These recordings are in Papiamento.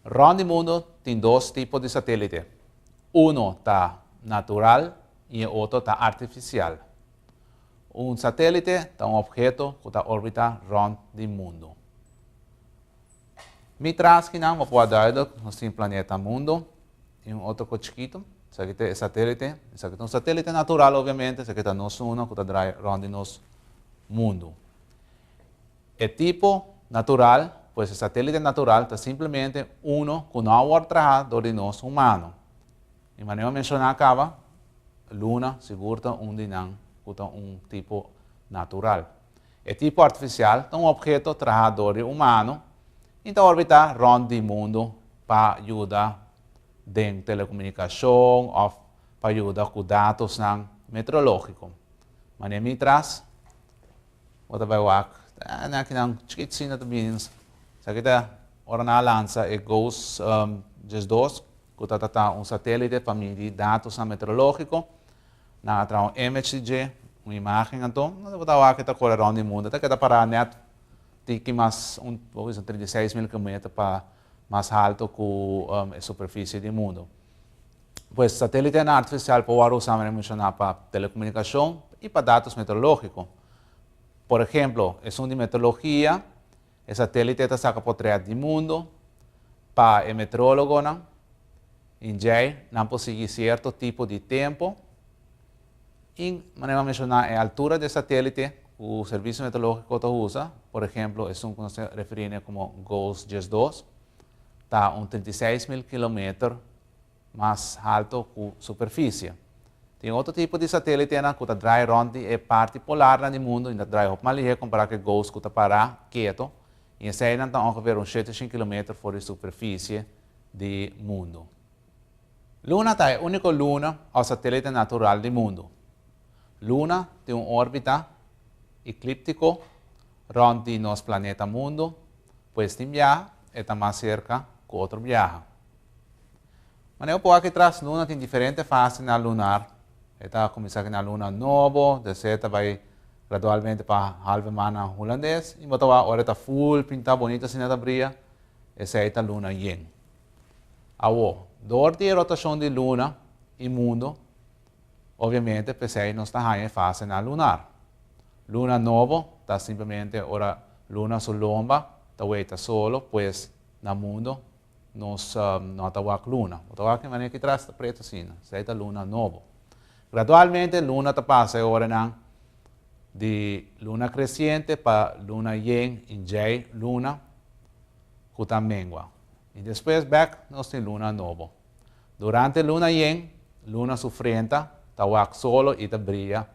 Rond di mundu tin dos tipo di satélite. Uno ta natural i e otro ta artifisial. Un satélite ta un opheto ku ta orbitá rond di mundu. Mi traski nan bo por duidelijk, nos tin planeta mundo y un otro cu chikito, esaki ta e satelite, esaki ta un satelite natural obviamente, esaki ta nos uno cu ta draai rond di nos mundo. E tipo natural, pues e satelite natural ta simplemente uno cu no a word traha door di nos humano. Y mane bo a menciona caba, luna sigur ta un di nan cu ta un tipo natural. E tipo artifisial ta un opheto traha dor di umano y ta orbita rond di mundo pa yuda den telecomunicacion of pa yuda cu datosnan meteorologico. Mane mitras bo ta bay wak nan akinan chikitsin ta bini esaki ta ora nan a lansa e GOES dies dos cu ta trata un satelite pa midi datosnan meteorologico. Nan a traha un image di dje, un imagen anto, nan lo bo ta wak e ta kore rònt di mundu, e ta keda pará nèt tin ki mas un bo bisa un trinta i seis mil kilometer pa mas halto ku e superfisie di mundu. Pues satélitenan artifisial por wòrdu usá, mira, menshoná pa telekomunikashon i pa datos meteorológiko. Por ehemplo, esun di meteorologia. E satélite ta saka potrèt di mundu pa e meteorólogonan i djei nan por sigui sierto tipo di tempu. I manera mi a menshoná, e altura di e satélite ku Servisio Meteorológiko ta usa, por ehemplo esun ku nos ta referí ne komo GOES-dies dos, ta un trinta i seis mil kilometer. mas haltu ku superfisie. Tin otro tipo di satélitenan ku ta drai rònt di e parti polarnan di mundu i ta drai hopi mas lihé kompará ku e gous ku ta pará ketu i eseinan ta ongeveer un shete shin kilometer for di superfisie di mundu. Luna ta e úniko luna òf satélite natural di mundu. Luna tin un órbita eklíptiko rònt di nos planeta mundu, pues tin biaha e ta mas serka ku otro biaha. Mane hopi aki tras luna tin diferente fase na lunar. E ta kuminsá ku na luna nobo, desé ta bai gradualmente pa halve maan na hulandes i bo ta wak ora e ta full pintá bonito asina ta bria, esei ta luna yen. Awo, dor di e rotashon di luna i mundo, obiamente p'esei nos ta haña e fase na lunar. Luna nobo ta simplemente ora luna su lomba ta weita solo, pues na mundo Nos no ta wak luna. Bo ta wak e manera ki tras ta pretu asina. Esei ta luna nobo. Gradualmente luna ta pasa e oranan di luna kresiente pa luna yen i djei luna ku ta mengua. I despues bèk nos tin luna nobo. Durante luna yen, luna su frenta ta wak solo i ta bria.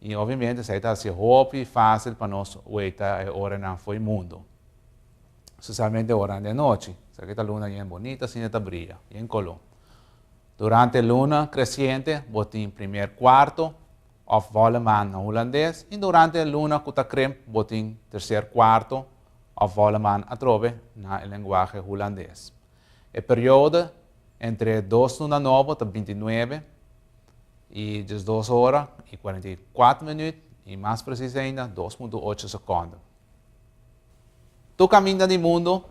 I obviamente esei ta hasié hopi fásil pa nos weita e oranan fo'i mundu. Specialmente ora den nochi. Esaki ta luna yen bonita asina e ta bria, yen color. Durante luna creciente bo tin primer cuarto of volle maan na Hulandes y durante luna cu ta krimp bo tin tercer cuarto of volle maan atrobe na e lenguahe Hulandes. E periode entre e dos luna nobo ta binti nuebe y diesdos ora y cuarenta y kuater minuut y mas precies ainda dos punto ocho seconden. Tur kaminda di mundu,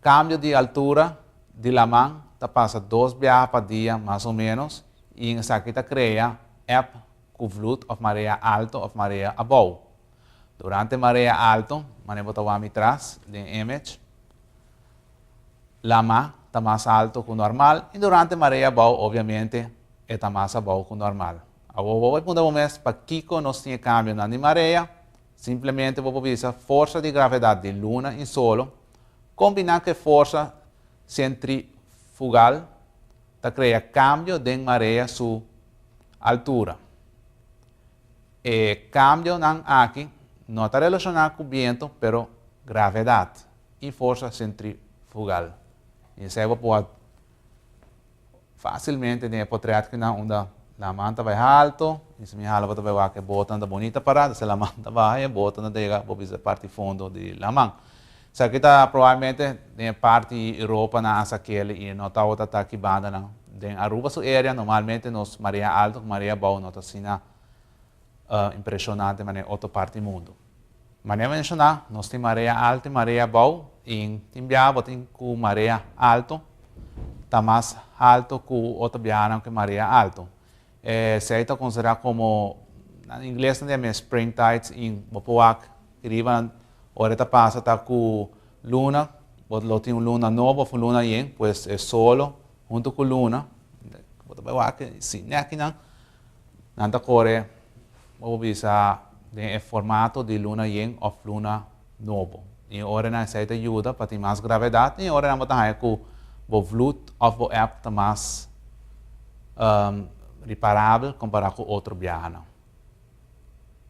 kambio di altura di laman ta pasa dos biaha pa dia mas o ménos i en esaki ta krea eb ku vloed òf marea alto òf marea abou. Durante marea alto, manera bo ta wak mi tras den image, lama ta mas alto ku normal i durante marea abou obviamente e ta mas abou ku normal. Awor bo por punta bo mes pakiko nos tin e kambionan di marea? Simplemente bo por bisa forsa di gravedad di luna y solo combina cu e forsa centrifugal ta crea cambio den marea su altura. E cambionan aki no ta relaciona cu biento pero gravedad y forsa centrifugal. Esey bo por a. Facilmente den e potret ki nan unda laman ta bay halto y si mi hala bo ta bay wak e bota nan ta bonita para ta si laman ta baha y e bota nan ta yega bo bisa parti fondo di laman. Esaki ta probablemente den e parti Europa nan a sakeli y no tawata ta ki banda nan. Den Aruba su area normalmente nos marea alto cu marea bou no ta asina a impreshoná den manera otro parti di mundo. Manera menshoná, nos tin marea alto i marea bou, i tin biaha bo tin ku marea alto ta mas alto ku otro biahanan ku e marea alto. Esei ta konsiderá komo, na ingles nan di a mes spring tides, i bo por wak di riba nan ora e ta pasa ta ku luna, bo lo tin un luna nobo òf un luna yen, pues e solo huntu ku luna, bo ta bai wak si nèk kinan. Nan ta core bo bisa den e formato di luna yen of luna nobo. Y e ora nan esey ta yuda pa tin mas gravedad y e ora nan bo ta haya cu bo vloed of bo app ta mas reparabel compara cu otro biahanan.